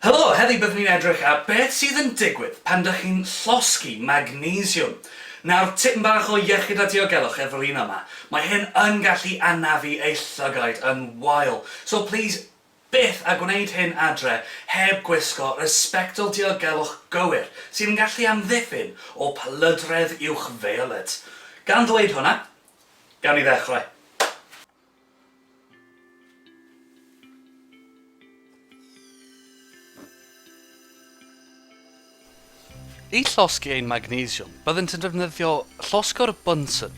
Helo, heddi byddwn ni'n edrych ar beth sydd yn digwydd pan dych chi'n llosgi magnesiwm. Nawr, tipyn bach o iechyd a diogelwch efo'r un yma, mae hyn yn gallu anafu ei llygaid yn wael, so plîs byth a gwneud hyn adre heb gwisgo resbectol diogelwch gywir sydd yn gallu amddiffyn o plydredd uwch-feioled. Gan ddweud hwnna, gawn ni ddechrau. I llosgi ein magnesiwm, byddent yn defnyddio llosgwr Bunsen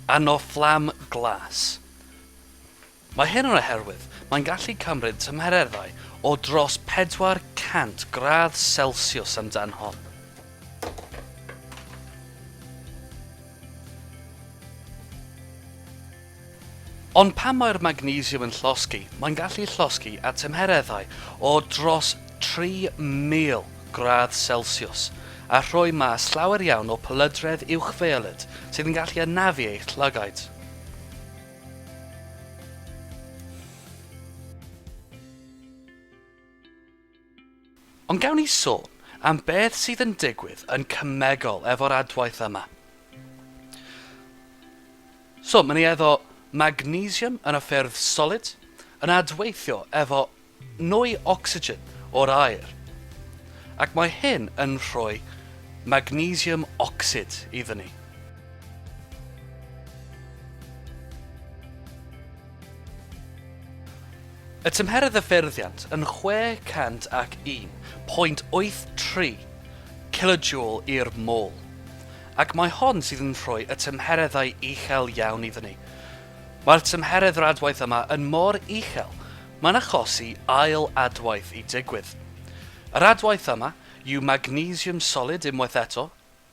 arno fflam glas. Mae hyn yn oherwydd mae'n gallu cymryd tymhereddau o dros 400 gradd Celsius amdan hon. Ond pan mae'r magnesiwm yn llosgi, mae'n gallu llosgi at tymhereddau o dros 3,000 gradd selsiws a rhoi mas llawer iawn o polydredd uwchfiolet sydd yn gallu anafu eich llygaid. Ond gawn ni sôn am beth sydd yn digwydd yn cemegol efo'r adwaith yma. So, mae'n ei efo magnesium yn y ffyrdd solid yn adweithio efo nwy ocsigen o'r aer, ac mae hyn yn rhoi magnesium ocsid iddyn ni. Y tymheredd ddyffurfiant yn 601.83 kilojoule i'r mol, ac mae hon sydd yn rhoi y tymhereddau uchel iawn iddyn ni. Mae'r tymheredd radwaith yma yn mor uchel, mae'n achosi ail adwaith i digwydd. Yr adwaith yma yw magnesium solid unwaith eto,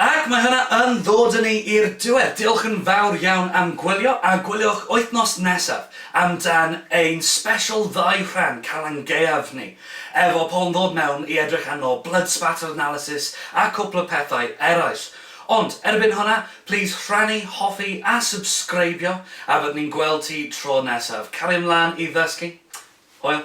Ac mae hwnna yn ddod â ni i'r diwedd. Diolch yn fawr iawn am gwylio, a gwyliwch wythnos nesaf am dan ein sbesial ddau rhan Calan Gaeaf ni, efo Paul yn ddod mewn i edrych arno, blood spatter analysis a cwpl o pethau eraill. Ond, erbyn hwnna, plîs rhannu, hoffi a subscribio, a fyddwn ni'n gweld ti tro nesaf. Cario mlaen i ddysgu. Hwyl.